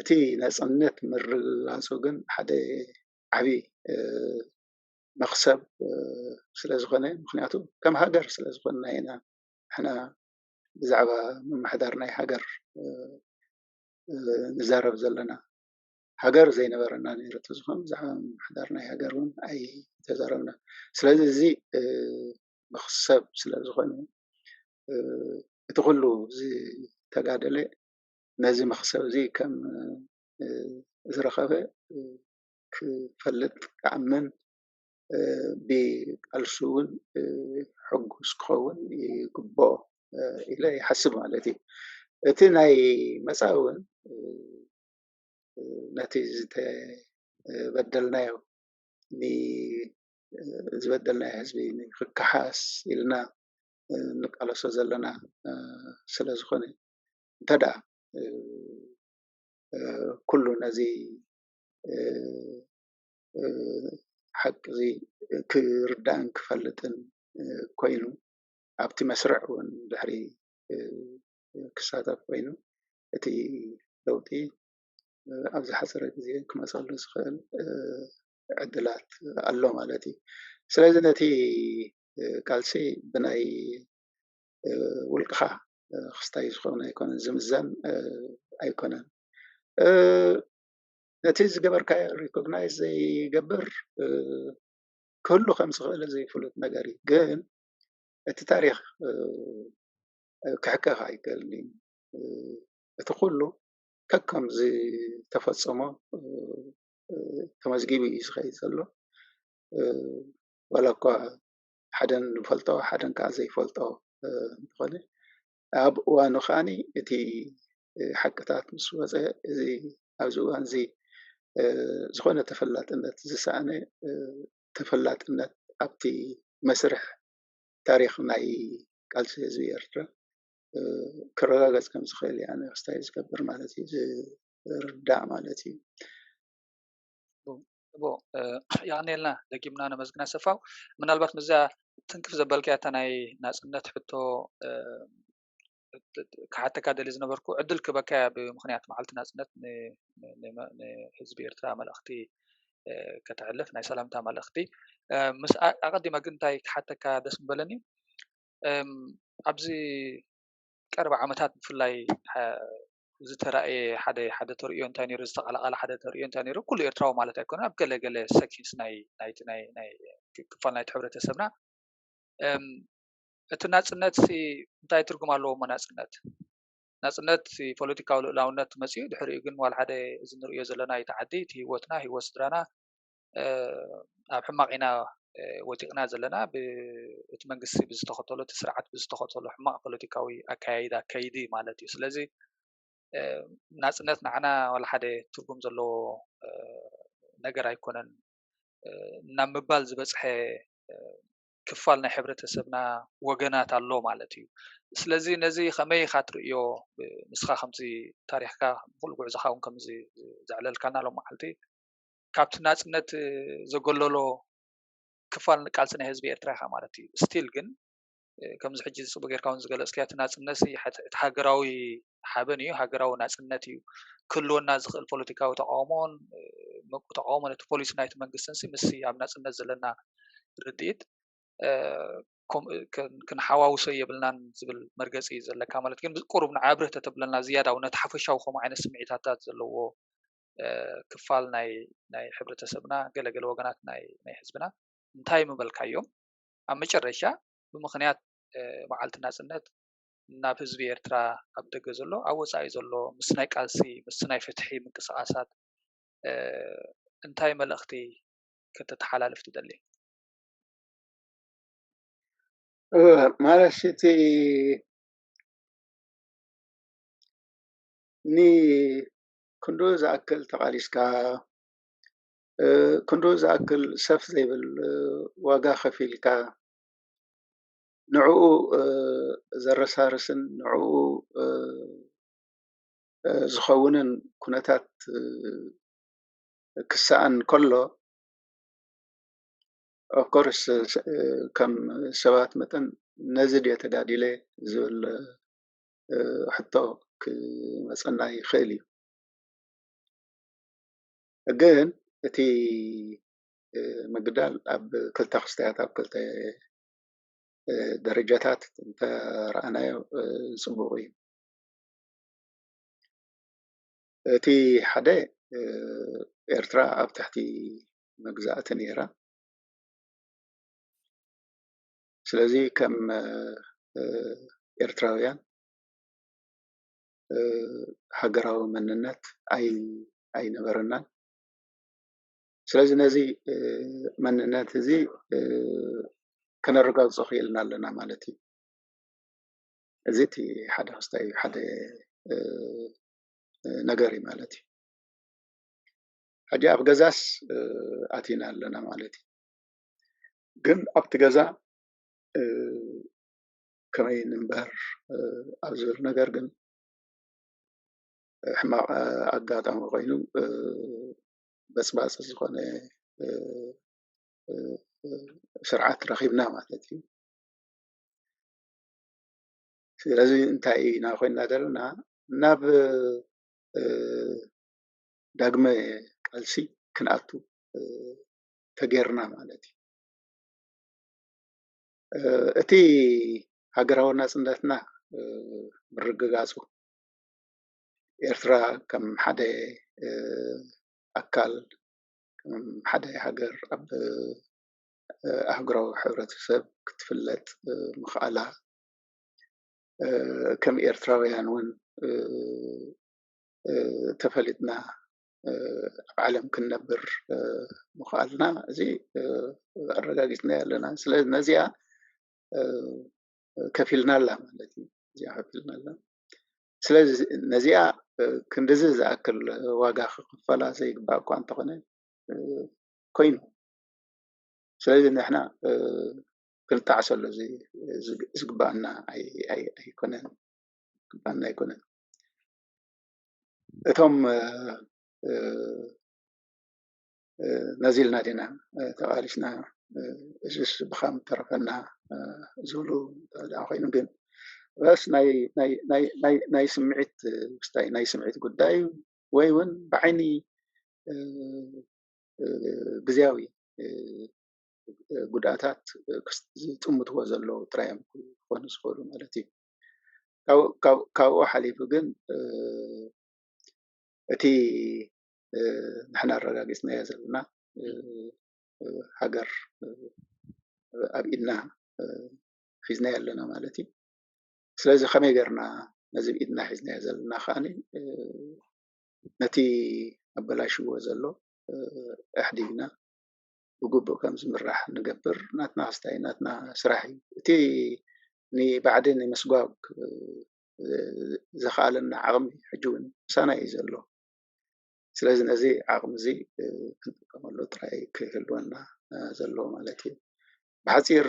እቲ ናፅነት ምርግጋፁ ግን ሓደ ዓብይ መኽሰብ ስለ ዝኾነ ምኽንያቱ ከም ሃገር ስለ ዝኾንና ኢና ንሕና ብዛዕባ ምምሕዳር ናይ ሃገር ንዛረብ ዘለና። ሃገር ዘይነበረና ነይሩ ተዝኾን ብዛዕባ ምምሕዳር ናይ ሃገር ውን ኣይምተዛረብናን። ስለዚ እዚ መኽሰብ ስለዝኾነ እቲ ኩሉ ዝተጋደለ ነዚ መኽሰብ እዚ ከም ዝረኸበ ክፈልጥ ክኣምን ብቃልሱ ውን ሕጉስ ክኸውን ይግበኦ ኢለ ይሓስብ ማለት እዩ። እቲ ናይ መጻኢ ውን ነቲ ዝተበደልናዮ ዝበደልናዮ ህዝቢ ንክከሓስ ኢልና ንቃለሶ ዘለና ስለ ዝኮነ እንተ ደኣ ኩሉ ነዚ ሓቂ እዚ ክርዳእን ክፈልጥን ኮይኑ ኣብቲ መስርዕ እውን ድሕሪ ክሳተፍ ኮይኑ እቲ ለውጢ ኣብ ዝሓፀረ ግዘ ክመፀሉ ዝኽእል ዕድላት ኣሎ ማለት እዩ። ስለዚ ነቲ ቃልሲ ብናይ ውልቅኻ ክስታይ ዝኸውን ኣይኮነን ዝምዘን ኣይኮነን። ነቲ ዝገበርካዮ ሪኮግናይዝ ዘይገብር ክህሉ ከም ዝኽእል ዘይፍሉጥ ነገር እዩ ግን እቲ ታሪኽ ክሕከኽ ኣይክእልን እዩ። እቲ ኩሉ ከከም ዝተፈፀሞ ተመዝጊቡ እዩ ዝኸይድ ዘሎ። ዋላ እኳ ሓደ ንፈልጦ ሓደ ከዓ ዘይፈልጦ እንተኾነ ኣብ እዋኑ ከዓ እቲ ሓቅታት ምስ ወፀ እዚ ኣብዚ እዋን እዚ ዝኾነ ተፈላጥነት ዝሰኣነ ተፈላጥነት ኣብቲ መስርሕ ታሪኽ ናይ ቃልሲ ህዝቢ ኤርትራ ክረጋገጽ ከም ዝኽእል እዩ ኣነ ክስታይ ዝገብር ማለት እዩ ዝርዳእ ማለት እዩ። እቦ የቀንየልና ደጊምና ነመስግን ኣሰፋው ምናልባት ምስዛ ትንክፍ ዘበልካያ እታ ናይ ናጽነት ሕቶ ክሓተካ ደሊ ዝነበርኩ ዕድል ክበካያ ብምክንያት መዓልቲ ናጽነት ንህዝቢ ኤርትራ መልእኽቲ ከተሕልፍ ናይ ሰላምታ መልእኽቲ ምስ ኣቐዲመ ግን እንታይ ክሓተካ ደስ ምበለኒ ኣብዚ ቀረባ ዓመታት ብፍላይ ዝተራእየ ሓደ ሓደ ተርእዮ እንታይ ነይሩ ዝተቓላቓለ ሓደ ተርእዮ እንታይ ነይሩ ኩሉ ኤርትራዊ ማለት ኣይኮነ ኣብ ገለ ገለ ሰኪንስ ናይ ናይቲ ናይ ክፋል ናይቲ ሕብረተሰብና እቲ ናጽነት እንታይ ትርጉም ኣለዎ እሞ ናጽነት ናጽነት ፖለቲካዊ ልኡላውነት መጺኡ ድሕሪኡ ግን ዋላ ሓደ እዚ ንርእዮ ዘለና ኢቲ ዓዲ ኢቲ ሂወትና ሂወት ስድራና ኣብ ሕማቕ ኢና ወዲቕና ዘለና ብእቲ መንግስቲ ብዝተኸተሎ እቲ ስርዓት ብዝተኸተሎ ሕማቕ ፖለቲካዊ ኣከያይዳ ከይዲ ማለት እዩ ስለዚ ናጽነት ንዓና ዋላ ሓደ ትርጉም ዘለዎ ነገር ኣይኮነን ናብ ምባል ዝበጽሐ ክፋል ናይ ሕብረተሰብና ወገናት ኣሎ ማለት እዩ። ስለዚ ነዚ ከመይ ኢኻ ትርእዮ ንስኻ ከምዚ ታሪኽካ ምኽሉ ጉዕዞኻ እውን ከምዚ ዘዕለልካና ሎም መዓልቲ ካብቲ ናጽነት ዘገለሎ ክፋል ንቃልሲ ናይ ህዝቢ ኤርትራ ኢኻ ማለት እዩ ስቲል ግን ከምዚ ሕጂ ጽቡ ጌርካ እውን ዝገለጽክያ እቲ ናጽነት እቲ ሃገራዊ ሓበን እዩ ሃገራዊ ናጽነት እዩ ክህልወና ዝኽእል ፖለቲካዊ ተቃውሞን ተቃውሞ ነቲ ፖሊሲ ናይቲ መንግስትን ምስ ኣብ ናጽነት ዘለና ርድኢት ክንሓዋውሶ የብልናን ዝብል መርገፂ እዩ ዘለካ ማለት ግን ቁሩብ ንዓ ብርህ ተተብለና ዝያዳ ው ነቲ ሓፈሻዊ ከምኡ ዓይነት ስምዒታታት ዘለዎ ክፋል ናይ ናይ ሕብረተሰብና ገለገለ ወገናት ናይ ናይ ህዝብና እንታይ ምበልካዮም ኣብ መጨረሻ ብምክንያት መዓልቲ ናጽነት ናብ ህዝቢ ኤርትራ ኣብ ደገ ዘሎ ኣብ ወጻኢ ዘሎ ምስ ናይ ቃልሲ ምስ ናይ ፍትሒ ምንቅስቃሳት እንታይ መልእክቲ ከተተሓላልፍ ትደሊ? ማለትሲ እቲ ንክንድኡ ዝኣክል ተቃሊስካ ክንድኡ ዝኣክል ሰፍ ዘይብል ዋጋ ከፊልካ ንዕኡ ዘረሳርስን ንዕኡ ዝኸውንን ኩነታት ክሰኣን ከሎ ኦፍኮርስ ከም ሰባት መጠን ነዚ ድየ ተጋዲለ ዝብል ሕቶ ክመፀና ይኽእል እዩ። ግን እቲ ምግዳል ኣብ ክልተ ክስታያት ኣብ ክልተ ደረጃታት እንተረኣናዮ ፅቡቕ እዩ። እቲ ሓደ ኤርትራ ኣብ ትሕቲ መግዛእቲ ነይራ። ስለዚ ከም ኤርትራውያን ሃገራዊ መንነት ኣይነበረናን። ስለዚ ነዚ መንነት እዚ ከነረጋግፆ ክኢልና ኣለና ማለት እዩ። እዚ እቲ ሓደ ክስታይ እዩ፣ ሓደ ነገር እዩ ማለት እዩ። ሕጂ ኣብ ገዛስ ኣቲና ኣለና ማለት እዩ። ግን ኣብቲ ገዛ ከመይ ንንበር ኣብ ዝብል ነገር ግን ሕማቕ ኣጋጣሚ ኮይኑ በስባስ ዝኾነ ስርዓት ረኺብና ማለት እዩ። ስለዚ እንታይ ኢና ኮይና ዘለና ናብ ዳግመ ቃልሲ ክንኣቱ ተገይርና ማለት እዩ። እቲ ሃገራዊ ናፅነትና ምርግጋፁ ኤርትራ ከም ሓደ ኣካል ከም ሓደ ሃገር ኣብ ኣህጉራዊ ሕብረተሰብ ክትፍለጥ ምኽኣላ ከም ኤርትራውያን እውን ተፈሊጥና ኣብ ዓለም ክንነብር ምኽኣልና እዚ ኣረጋጊፅናዮ ኣለና። ስለዚ ነዚኣ ከፊልና ኣላ ማለት እዩ። እዚኣ ከፊልና ኣላ። ስለዚ ነዚኣ ክንድዚ ዝኣክል ዋጋ ክኽፈላ ዘይግባእ እኳ እንተኾነ ኮይኑ ስለዚ ንሕና ክንጣዕሰሉ ዝግበኣና ኣይኮነን። ግበኣና ኣይኮነን እቶም ነዚ ኢልና ዲና ተቃሊስና እዙይስ ብካ ምተረፈና ዝብሉ እንተደኣ ኮይኖም ግን ርኣስ ናይ ስምዒት ምስታይ ናይ ስምዒት ጉዳይ እዩ ወይ እውን ብዓይኒ ግዝያዊ ጉድኣታት ዝጥምትዎ ዘለዉ ጥራይ እዮም ክኾኑ ዝኽእሉ ማለት እዩ ካብኡ ሓሊፉ ግን እቲ ንሕና ኣረጋጊፅናዮ ዘለና ሃገር ኣብ ኢድና ሒዝናዮ ኣለና ማለት እዩ። ስለዚ ከመይ ጌርና ነዚ ኣብ ኢድና ሒዝናዮ ዘለና ከዓ ነቲ ኣበላሽዎ ዘሎ ኣሕዲግና ብግቡእ ከም ዝምራሕ ንገብር ናትና ክስታይ ናትና ስራሕ እዩ። እቲ ንባዕዲ ንምስጓግ ዘኽኣለና ዓቕሚ ሕጂ እውን ምሳና እዩ ዘሎ። ስለዚ ነዚ ዓቕሚ እዚ ክንጥቀመሉ ጥራይ እዩ ክህልወና ዘለዎ ማለት እዩ። ብሓፂር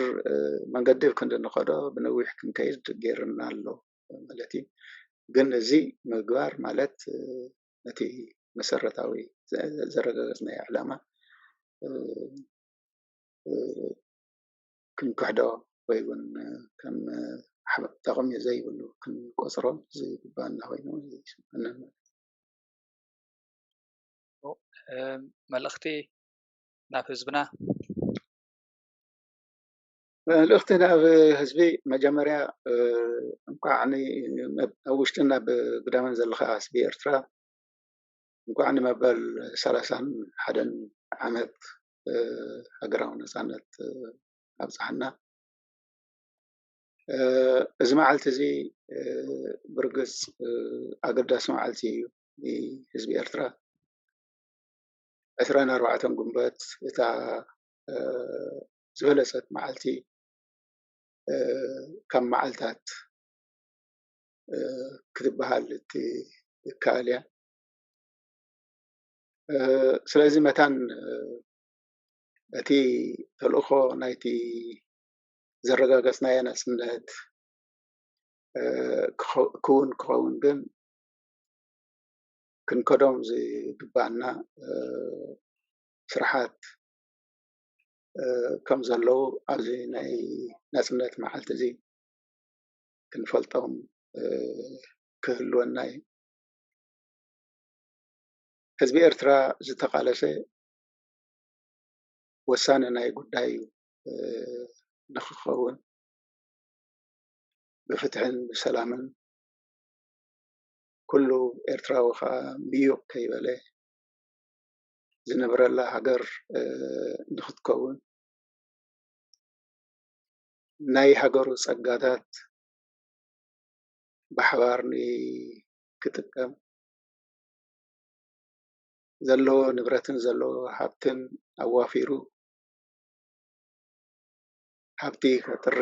መንገዲ ኣብ ክንዲ ንኸዶ ብነዊሕ ክንከይድ ገይሩና ኣሎ ማለት እዩ። ግን እዚ ምግባር ማለት ነቲ መሰረታዊ ዘረጋገፅናዮ ዕላማ ክንክሕዶ ወይ እውን ከም ጠቕሚ ዘይብሉ ክንቆፅሮ ዝግበኣና ኮይኑ ይስመዐኒ ኣሎ። መልእኽቲ ናብ ህዝብና መልእኽቲ ናብ ህዝቢ መጀመርያ እንኳዕ ኣብ ውሽጥን ኣብ ግዳምን ዘለኻ ህዝቢ ኤርትራ እንኳዕ ንመበል ሰላሳን ሓደን ዓመት ሃገራዊ ነፃነት ኣብፀሐና። እዚ መዓልቲ እዚ ብርግፅ ኣገዳሲ መዓልቲ እዩ ንህዝቢ ኤርትራ ዕስራን ኣርባዕተን ግንቦት እታ ዝበለፀት መዓልቲ ካብ መዓልታት ክትበሃል እትከኣል እያ ስለዚ መታን እቲ ተልእኾ ናይቲ ዘረጋገፅናዮ ናፅነት ክውን ክኸውን ግን ክንከዶም ዝግባእና ስራሓት ከም ዘለዉ ኣብዚ ናይ ናፅነት መዓልቲ እዚ ክንፈልጦም ክህልወና እዩ። ህዝቢ ኤርትራ ዝተቓለሰ ወሳኒ ናይ ጉዳዩ ንኽኸውን ብፍትሕን ብሰላምን ኩሉ ኤርትራዊ ከዓ ምዩቕ ከይበለ ዝነብረላ ሃገር ንኽትከውን ናይ ሃገሩ ፀጋታት ብሓባር ክጥቀም ዘለዎ ንብረትን ዘለዎ ሃፍትን ኣዋፊሩ ሃብቲ ከጥሪ፣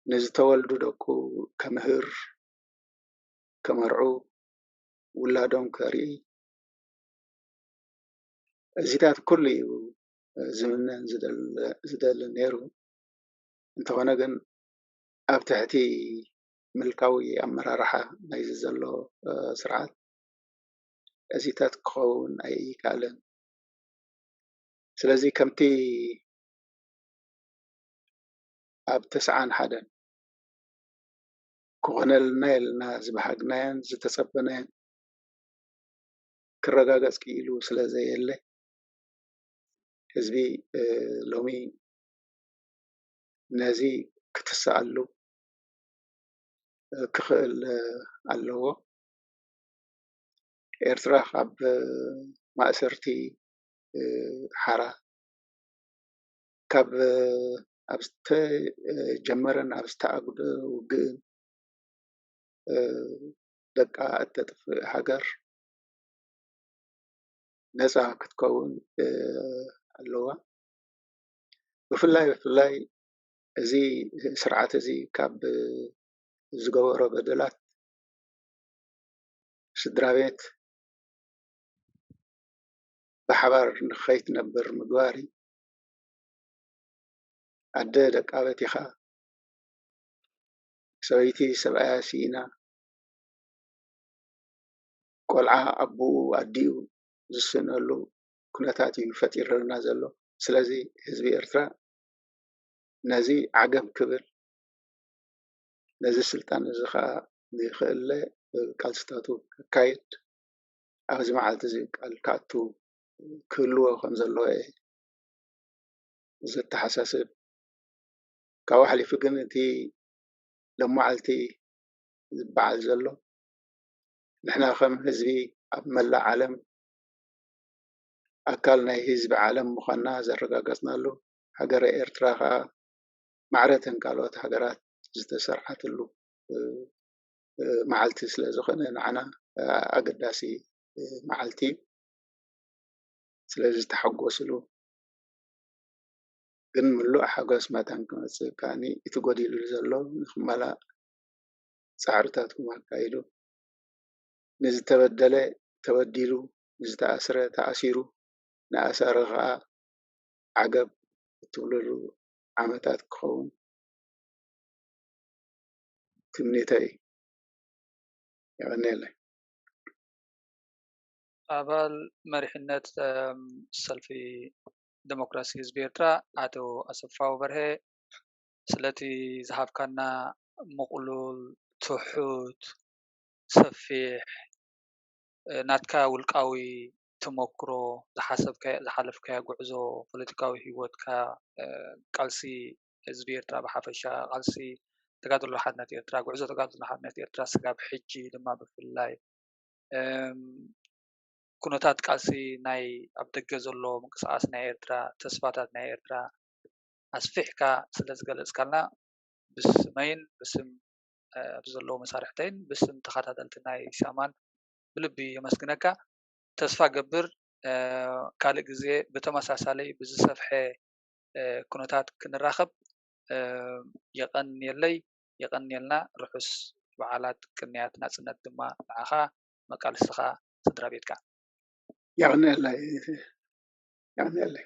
ንዝተወልዱ ደቁ ከምህር፣ ከመርዑ፣ ውላዶም ከርኢ እዚታት ኩሉ እዩ ዝምነን ዝደልን ነይሩ። እንተኾነ ግን ኣብ ትሕቲ ምልካዊ ኣመራርሓ ናይዚ ዘሎ ስርዓት እዚታት ክኸውን ኣይካኣለን። ስለዚ ከምቲ ኣብ ተስዓን ሓደን ክኾነልና የልና ዝበሃግናዮን ዝተጸበናዮን ክረጋገጽ ክኢሉ ስለ ዘየለ ህዝቢ ሎሚ ነዚ ክትስኣሉ ክኽእል ኣለዎ። ኤርትራ ካብ ማእሰርቲ ሓራ ካብ ኣብ ዝተጀመረን ኣብ ዝተኣጉደ ውግእን ደቃ እተጥፍእ ሃገር ነጻ ክትከውን ኣለዋ። ብፍላይ ብፍላይ እዚ ስርዓት እዚ ካብ ዝገበሮ በደላት ስድራቤት ብሓባር ንኸይትነብር ምግባር እዩ። ኣደ ደቃ በቲኻ፣ ሰበይቲ ሰብኣያ ሲኢና፣ ቆልዓ ኣቡኡ ኣዲኡ ዝስእነሉ ኩነታት እዩ ፈጢርልና ዘሎ። ስለዚ ህዝቢ ኤርትራ ነዚ ዓገብ ክብል፣ ነዚ ስልጣን እዚ ኸኣ ንክእለ ቃልስታቱ ከካይድ ኣብዚ መዓልቲ እዚ ቃል ክኣቱ ክህልዎ ከም ዘለዎ እየ ዘተሓሳስብ። ካብኡ ሓሊፉ ግን እቲ ሎማዓልቲ ዝበዓል ዘሎ ንሕና ከም ህዝቢ ኣብ መላእ ዓለም ኣካል ናይ ህዝቢ ዓለም ምዃንና ዘረጋገጽናሉ ሃገረ ኤርትራ ኸኣ ማዕረ እተን ካልኦት ሃገራት ዝተሰርዓትሉ መዓልቲ ስለ ዝኾነ ንዓና ኣገዳሲ መዓልቲ እዩ። ስለዚ ተሓጎስሉ ግን ምሉእ ሓጎስ መታን ክመጽእ ከኣኒ እቲ ጎዲሉ ዘሎ ንክመላእ ጻዕርታትኩም ኣካይዱ። ንዝተበደለ ተበዲሉ፣ ንዝተኣስረ ተኣሲሩ፣ ንኣሳሪ ከኣ ዓገብ እትብሉሉ ዓመታት ክኸውን ትምኒተይ እዩ። የቐንየለይ። ኣባል መሪሕነት ሰልፊ ደሞክራሲ ህዝቢ ኤርትራ ኣቶ ኣሰፋው በርሀ ስለቲ ዝሃብካና ምቕሉል፣ ትሑት፣ ሰፊሕ ናትካ ውልቃዊ ተሞክሮ ዝሓሰብካዮ ዝሓለፍካዮ ጉዕዞ ፖለቲካዊ ሂወትካ ቃልሲ ህዝቢ ኤርትራ ብሓፈሻ ቃልሲ ተጋድሎ ሓድነት ኤርትራ ጉዕዞ ተጋድሎ ሓድነት ኤርትራ ስጋብ ሕጂ ድማ ብፍላይ ኩነታት ቃልሲ ናይ ኣብ ደገ ዘሎ ምንቅስቃስ ናይ ኤርትራ ተስፋታት ናይ ኤርትራ ኣስፊሕካ ስለ ዝገለጽካልና ብስመይን ብስም ኣብዚ ዘለዉ መሳርሕተይን ብስም ተኸታተልቲ ናይ ሻማን ብልቢ የመስግነካ ተስፋ እገብር ካልእ ግዜ ብተመሳሳሊ ብዝሰፍሐ ኩነታት ክንራከብ የቀንየለይ የቀንየልና ርሑስ በዓላት ቅንያት ናጽነት ድማ ንዓካ መቃልስትካ ስድራቤትካን። የቅንየለይ የቅንየለይ።